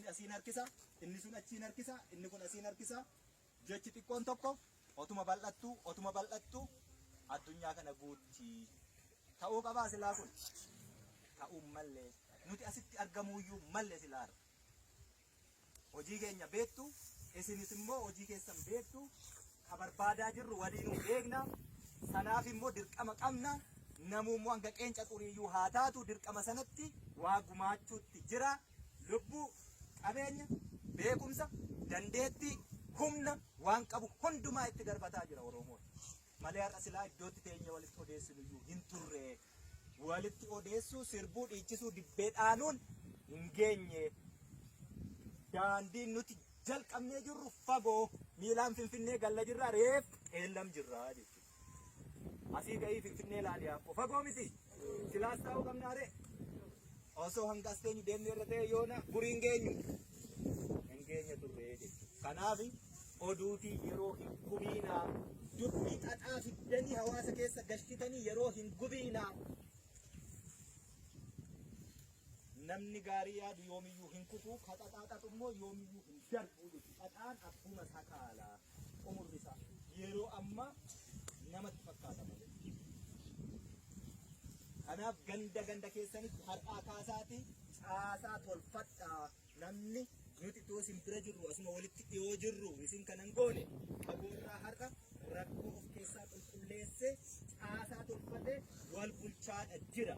asiin harkisa, inni sun achiin harkisa, inni kun asiin harkisa. Jechi xiqqoon tokko otuma bal'attuu, otuma bal'attuu addunyaa kana guutti. Ta'uu qabaa silaa kun? Ta'uu malle. Nuti asitti argamuuyyuu malle silaa har'a. Hojii keenya beektu, isinis immoo hojii keessan beektu, ka barbaadaa jirru waliinuu beekna. Kanaaf immoo dirqama qabna. Namuu immoo hanga qeenca xuriiyyuu haa taatu dirqama sanatti waa gumaachuutti jira. Lubbuu, qabeenya, beekumsa, dandeettii, humna waan qabu hundumaa itti darbataa jira Oromoon. Malee har'a silaa iddootti teenyee walitti odeessinuyyuu hin turre. walitti odeessuu, sirbuu, dhiichisuu, dibbee dhaaluun hin geenye. Daandiin nuti jalqabnee jirru fagoo miilaan Finfinnee galla jirra reef qeellam jirra jechuudha. Asii ka'ii Finfinnee laali yaakko fagoo miti. Kilaas taa'uu qabnaa ree? Osoo hanga as teenyu deemnee irra ta'e yoona gurii hin geenyu. Hin geenye turre jechuudha. Kanaaf oduuti yeroo hin gubiinaa dubbii xaxaa fiddanii hawaasa keessa galchitanii yeroo hin gubiinaa. Namni gaarii yaadu yoomiyyuu hin kufu, ka xaxaa xaxu immoo yoomiyyuu hin darbu jechuudha. Xaxaan akkuma sakaalaa. xumurri isaa yeroo ammaa namatti fakkaata malee. Kanaaf ganda ganda keessanitti har'aa kaasaatii caasaa tolfadhaa namni nuti too isin bira jirru asuma walitti dhiyoo jirru isin kanan goone qaboorraa har'a rakkoo of keessaa qulqulleessee caasaa tolfatee wal bulchaadha jira.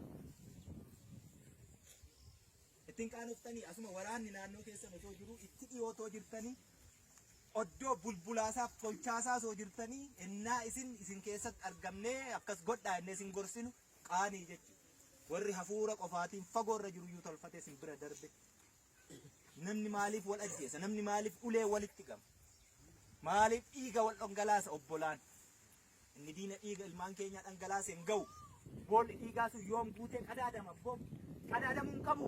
Itti hin qaanoftanii asuma waraanni naannoo keessan osoo jiruu itti dhiyoo otoo jirtanii oddoo bulbulaasaaf tolchaasaa osoo jirtanii ennaa isin isin keessatti argamnee akkas godhaa ennee isin gorsinu qaanii jechuudha. Warri hafuura qofaatiin fagoorra jiru iyyuu tolfatee isin bira darbe. Namni maaliif wal ajjeesa? Namni maaliif ulee walitti gama? Maaliif dhiiga wal dhongalaasa obbolaan? Inni diina dhiiga ilmaan keenyaa dhangalaase hin ga'u. Boolli dhiigaa sun yoom guutee qadaadama abboo? Qadaadamuu hin qabu.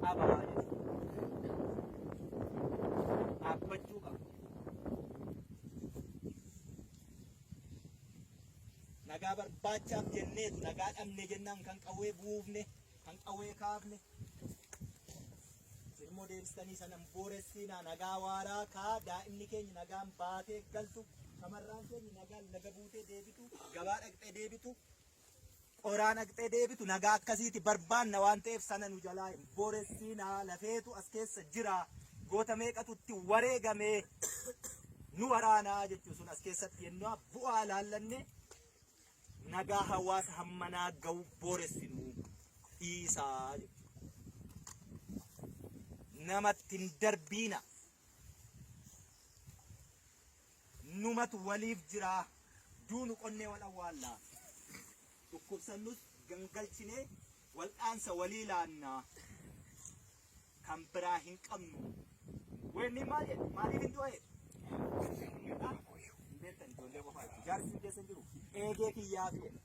Qaba dhaabbachuu qaba. Nagaa barbaachaaf jenneetu nagaa dhabne jennaan kan qawwee buufne kan qawwee kaafne ilmoo deebistanii sanan booressiinaa nagaa waaraa kaa daa'imni keenya nagaan baatee galtu shamarraan keenya nagaan laga buutee deebitu gabaa dhaqxee deebitu qoraa dhaqxee deebitu nagaa akkasiiti barbaanna waan ta'eef sana nu jalaa hin booressiinaa lafeetu as keessa jira goota meeqatu itti wareegamee nu waraanaa jechuun sun as keessatti yennaa bu'aa laallanne nagaa hawaasa hammanaa ga'u booressinu dhiisaa namatti hin darbiina numatu waliif jiraa duunu qonnee wal awwaallaa dhukkubsannus gangalchinee Wal'aansa walii laanna. Kan biraa hin qabnu. Weenni maal jedhe? Maaliif hin du'e? Hin beektan ijoollee qofaa jechuudha. Jaarsi hin deessan jiru. Eegee kiyyaaf jedhe.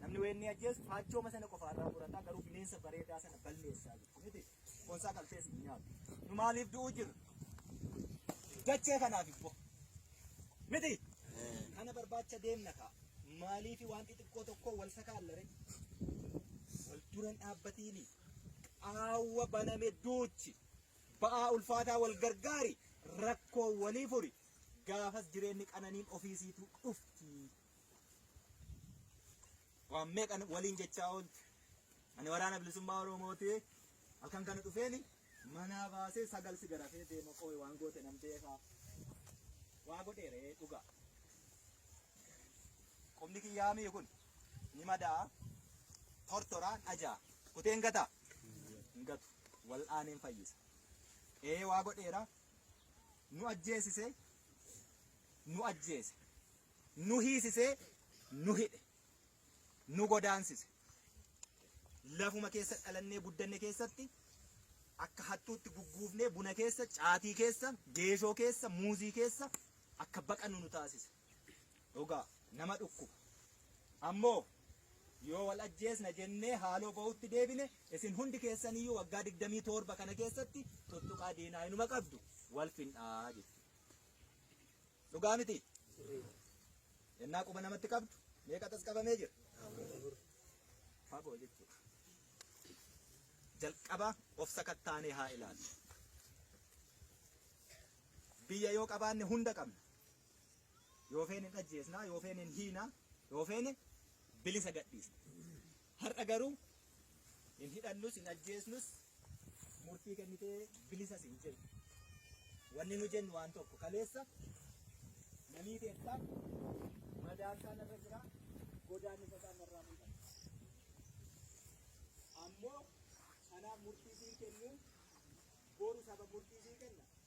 Namni weenni ajjeesu haachooma sana qofaarraa murataa garuu bineensa bareedaa sana balleessaa jechuudha. Boonsaa qaltees hin nyaatu. Nu maaliif du'uu jirra? Dachee kanaaf immoo. Miti. Kana barbaacha deemna kaa. Maaliif waan xixiqqoo tokko wal sakaallare? Wal duran dhaabbatiini. Qaawwa baname duuchi. Ba'aa ulfaataa wal gargaari. Rakkoo walii furi. Gaafas jireenyi qananiin ofiisiitu dhufti. Waan meeqa waliin jechaa ooltu. Ani waraana bilisummaa Oromooti. Halkan kana dhufeeni manaa baasee sagal si garafee deema qooy waan goote nan beekaa. Waa godheeree dhugaa. Qubni kiyyaa mi'i kun ni madaa tortoraan ajaa kuteen gataa hin gatu wal'aaneen fayyisa. Ee waa godheera nu ajjeesise nu ajjeese nu hiisisee nu hidhe nu godaansise lafuma keessa dhalannee guddanne keessatti akka hattuutti gugguufnee buna keessa caatii keessa geeshoo keessa muuzii keessa akka baqannu nu taasise dhugaa nama dhukkuba ammoo yoo wal ajjeesna jennee haaloo ba'utti deebine isin hundi keessaniyyuu waggaa digdamii torba kana keessatti tuttuqaa diinaa inuma qabdu wal fin'aa jechuudha. Dhugaa miti. Yennaa quba namatti qabdu meeqa tas qabamee jira. Fagoo jechuudha. Jalqaba of sakattaanee haa ilaalu. Biyya yoo qabaanne hunda qabna. Yoo feene hin ajjeesnaa, yoo feene hin hiinaa, yoo feene bilisa gadhiisna. Har'a garuu hin hidhannus hin ajjeesnus murtii kennitee bilisas hin jennu. Wanni nu jennu waan tokko kaleessa namii teettaa madaan isaan irra jira godaan isa isaan irraa mul'ata. Ammoo kanaaf murtii siin kennu boru saba murtii siin kenna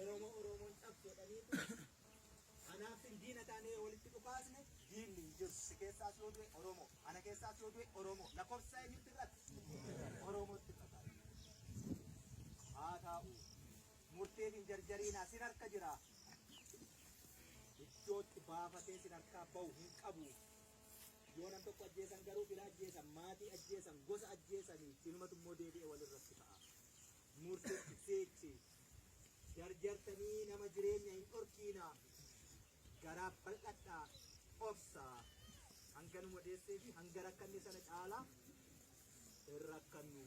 Oromoo Oromoon dhabdu jedhaniitu anaafin diina taanee yoo walitti dhukaasne diinni hin jiru. Si keessaas yoo du'e Oromoo, ana keessaas yoo du'e Oromoo. Lakkoofsa eenyutti irratti? Oromootti irratti. Haa taa'u. Murteef hin jarjariinaa sin harka jira. Iddootti baafatee sin harkaa bahu hin qabu. Yoo nam tokko ajjeesan garuu fira ajjeesan, maatii ajjeesan, gosa ajjeesanii sinumatu immoo deebi'ee walirratti ka'a. murtitti fiigti. Jarjartanii nama jireenya hin dhorkiina. Garaa bal'adha obsa. Hanga nu madeessee fi hanga rakkanne sana caalaa hin rakkannu.